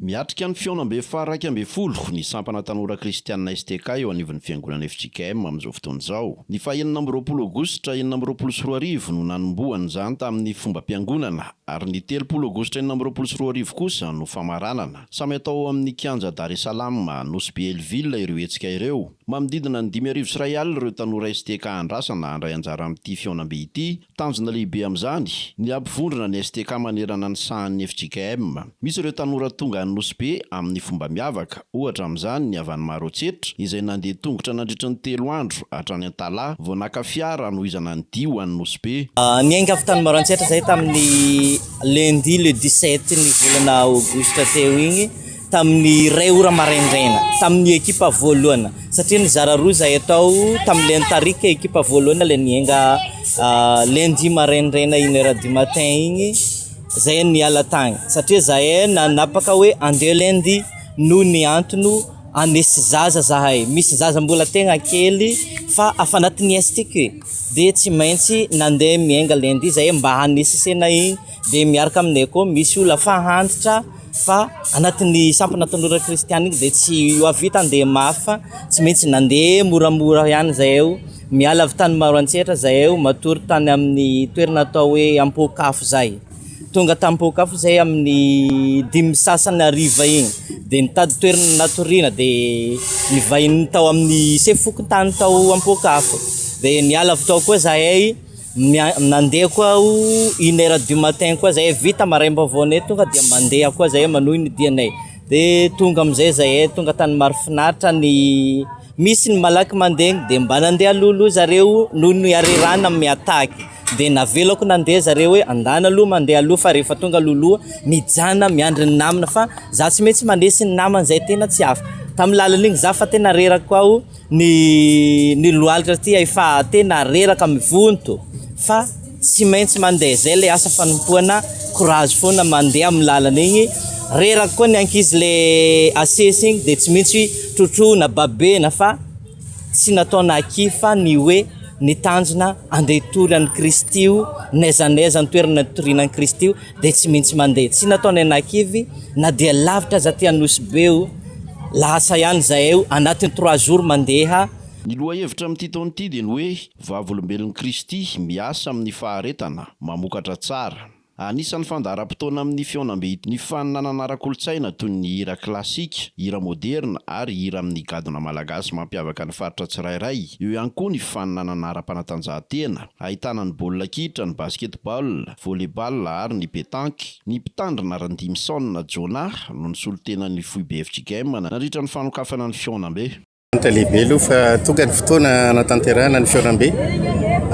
Miatrika ny fihaonambe faha iraika ambin'ny folo ny sampana tanora kristianina STK eo anivon'ny fiangonana fjkm amin'izao fotoana izao. Ny faha enina amby roapolo aogositra enina amby roapolo sy roa arivo no nanombohana izany tamin'ny fombam-piangonana ary ny telopolo aogositra enina amby roapolo sy roa arivo kosa no famaranana. Samy atao ao amin'ny kianja Dar es Salaam, Nosy Be Elville ireo hetsika ireo. Manodidina ny dimy arivo sy iray alina ireo tanora STK andrasana handray anjara amin'ity fihaonambe ity Tanjona lehibe amin'izany ny hampivondrona ny STK manerana ny sahan'ny fjkm. Misy ireo tanora tonga any Nosy Be amin'ny fomba miavaka, ohatra amin'izany ny avy any Maroantsetra izay nandeha tongotra nandritra ny telo andro hatrany Antalaha vao naka fiara hanohizana ny dihy ho any Nosy Be. Niainga avy tany Maroantsetra izay tamin'ny lundi le dix-sept ny volana aogositra teo iny. tamin'ny iray ora maraindraina tamin'ny ekipa voalohana satria nizara roa izahay tao tamin'ilay nitarika ekipa voalohana ilay nienga ah, lundi maraindraina une heure du matin igny zay niala tagny satria zahay nanapaka hoe andeha lundi noho ny antony anesy zaza zahay misy zaza mbola tegna kely fa afa anatin'ny estike dia tsy maintsy nandeha mienga lundi zahay mba hanesesena igny Dia miaraka aminay koa misy olona fahantitra fa anatin'ny sampana tanora kristiana iny dia tsy hoavita handeha mafy fa tsy maintsy nandeha moramora ihany izahay eo, miala avy tany Maroantsetra izahay eo matory tany amin'ny toerana atao hoe Ampohokafo izay. Tonga tany Ampohokafo izahay amin'ny dimy sy sasany hariva iny dia nitady toerana natoriana dia nivahiny tao amin'ny sefo fokontany tao Ampohokafo dia niala avy tao koa izahay. Nandeha koa aho une heure du matin koa zay vita maraim-baovaonay tonga dia mandeha koa zay manohy ny dianay de tonga amizay zay tonga tany Marofinaritra ny misy ny malaky mandeha de mba nandeha alohaloha zareo noho ny harerahana miataky de navelako nandeha zareo hoe andana aloha mandeha aloha fa rehefa tonga alohaloha mijanona miandry ny namana fa za tsy maintsy mandresy ny namana zay tena tsy afaka tamin'ny lalan'iny za fa tena reraka aho Ny ny lohalika ty efa tena reraka mivonto fa tsy maintsy mandeha zay le asa fanompoana courage foana mandeha amin'ny lalana igny reraka koa ny ankizy le asesy igny de tsy maintsy trotroina babena fa tsy nataona akia fa ny hoe ny tanjona andeha hitory an'i Kristy io n'aiza n'aiza ny toerana nitoriana an'i Kristy io Dia tsy mintsy mandeha. Tsy natao ny anakivy na dia lavitra aza aty Anosy be o. Lasa ihany zahay o, anatin'ny trois jours mandeha. Ny lohahevitra amin'ity taona ity dia ny hoe Vavolombelon'i Kristy miasa amin'ny faharetana, mamokatra tsara. Anisan'ny fandaharam-potoana amin'ny fihaonambe ny faninanana ara-kolontsaina toy ny hira klasika, hira moderina ary hira amin'ny gadona malagasy mampiavaka ny faritra tsirairay. Eo ihany koa ny faninanana ara-panatanjahantena, ahitana ny baolina kitra, ny basketball, volley-ball ary ny petanque. Ny mpitandrina Randimison Jonah no nisolo tena ny foibe FJ Game nandritra ny fanokafana ny fihaonambe. Hita lehibe aloha fa tonga ny fotoana hanatanterahana ny fihaonambe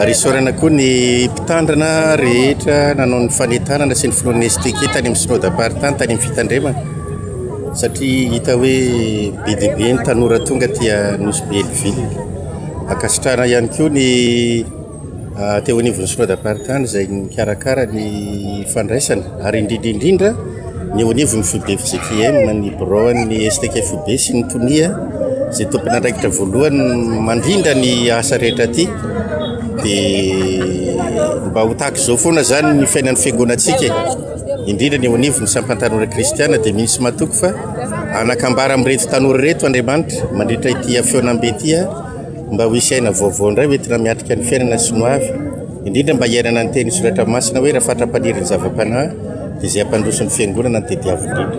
ary isaorana koa ny mpitandrina rehetra nanao ny fanentanana sy ny filohan'ny STK tany amin'ny Synodam-paritany tany amin'ny fitandremana satria hita hoe be dia be ny tanora tonga aty Nosy Belleville. Ankasitrahana ihany koa ny teo anivon'ny sinodamparitany izay nikarakara ny fandraisana ary indrindra indrindra ny eo anivon'ny foibe fjkm ny biraon'ny stk foibe sy ny tonia izay tompon'andraikitra voalohany mandrindra ny asa rehetra aty dia mba ho tahaka izao foana izany ny fiainan'ny fiangonantsika indrindra ny eo anivon'ny sampantanora kristiana dia misy matoky fa anakambara amin'ireto tanora ireto andriamanitra mandritra ity hafeonambe ity a Mba ho hisy aina vaovao indray hoentina miatrika ny fiainana sy ny hoavy, indrindra mba hiainana ny tenin'ny soratra masina hoe raha fatra-panirin'ny zava-panahy dia izay hampandroso ny fiangonana no tediavo indrindra.